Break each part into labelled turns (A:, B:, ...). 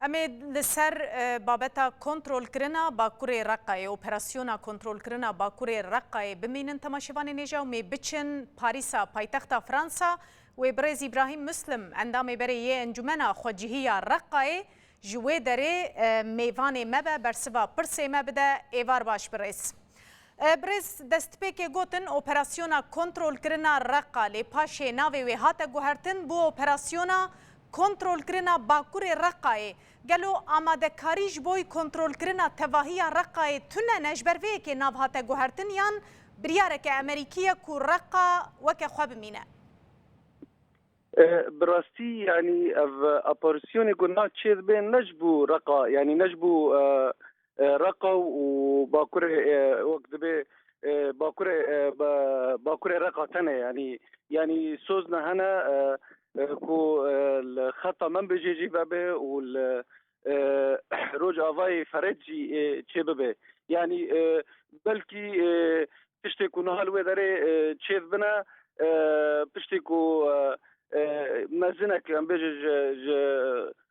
A: Em ê li ser babeta kontrolkirina Bakurê Reqqayê, operasyona kontrolkirina Bakurê Reqqayê bimînin temaşevanên êja û mê biçin Parîsa paytexta Fransa. Wê birêz Îbrahîm Muslim, endamê berê yê Encûmena Xwecihî ya Reqqayê ji wê derê mêvanê me be bersiva pirsê me bide. Êvar baş birêz. Birêz destpêkê gotin operasyona kontrolkirina Reqqa lê paşê navê wê hate guhertin bû operasyona Kontrolkirina Bakurê Reqayê, Gelo amadekarî ji boy kontrolkirina tevahiya Reqayê tune ne ji ber vê yekê nav hate guhertin yan biryareke Emerîkî ye ku Reqa weke xwe bimîne?
B: Bi rastî yanî ev operasyonê ku na çêdibê ne ji bo Reqa yanî ne ji bo Reqa û Bakurê wek dibê Bakurê Bakurê Reqa tene yanî yanî sozne hene ku li xeta Menbicê jî vebe û li Rojavayê Fered jî çê bibe. Yanî belkî tiştê ku niha li wê derê çêv bine piştî ku mezinek em bêje ji ji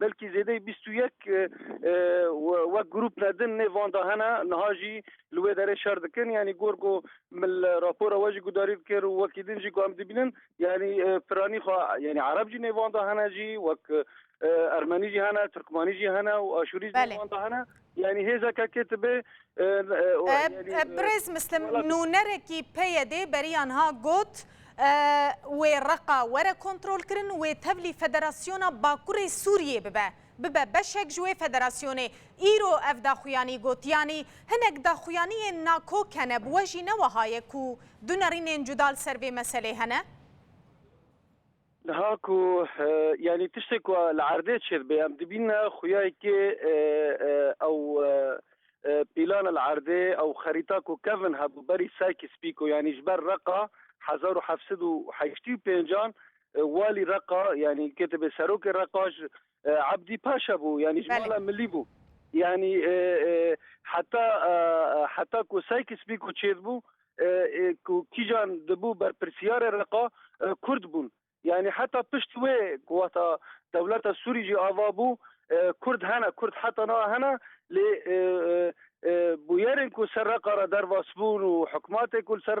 B: belkî zêdeyî bîst û yek wek grûp ne din nê van de hene niha jî li wê derê şer dikin yanî gor ku min li rapora we jî gudarî dikir û wekî din jî ku em dibînin yanî piranî xwe yanî ereb jî nê van de hene jî wek ermenî jî hene tirkmanî jî hene û aşûrî jî nê van de hene Yanî hêza ke
A: ketibê Birêz Mislim nûnerekî PYD berî anha got, Wê Reqa were kontrolkirin, wê tevlî Federasyona Bakurê Sûriyê bibe, bibe beşek ji wê federasyonê. Îro ev daxuyanî got, yanî hinek daxuyaniyên nakok hene, bi we jî ne weha ye ku du nerînên cuda li ser vê meselê hene? Niha
B: ku yanî tiştê ku li erdê çêdibe em dibîne xuya yekê ew pîlana li erdê ew xerîta ku kevin hebû berî Serkîs Pîko yanî ji ber Reqa hezar û heft sed û heştî û pênc an walî Reqa yanî ketibê serokê Reqa Ebdî Paşa bû yanî ji mala milî bû. Yanî heta heta ku Saykis Bîko çêdibû ku kîjan dibû berpirsiyarê Reqa Kurd bûn. Yanî heta piştî wê ku wexta dewleta Sûrî jî ava bû Kurd hene Kurd heta niha hene lê bûyerên ku ser Reqa re dervasbûn û hikmatê ku li ser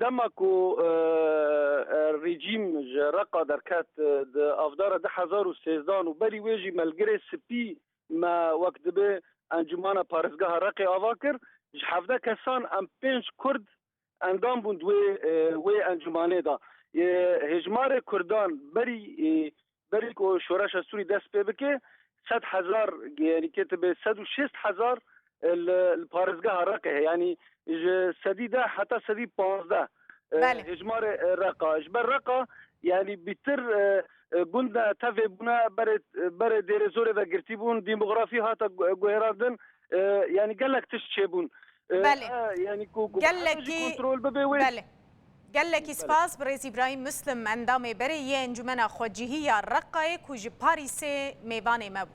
A: Dema
B: ku rejîm ji Reqa derket di avdara du hezar û sêzdan û berî wê jî Melgirê Spî me wek dibe Encûmana Parêzgeha Reqê ava kir. Ji hevdeh kesan em pênc Kurd endam bûn di wê encûmanê de. Hêjmarê Kurdan berî Berî ku şoreşa Sûrî dest pê bike sed hezar yanî ketibe sed û şêst hezar li li parêzgeha Reqê heye yanî ji sedî deh heta sedî panzdeh hêjmarê Reqa ji ber Reqa yanî bîtir gund e tevê bûne berê berê Dêrêzorê ve girtî bûn dîmografî hate guhêrandin yanî gelek tişt çêbûn. Belê.
A: Yanî ku gelekî kontrol bibe wê. Belê. Gelekî spas bi rêz Îbrahîm Muslim endamê berê yê Encûmena Xwecihî ya Reqayê ku ji Parîsê mêvanê me bû.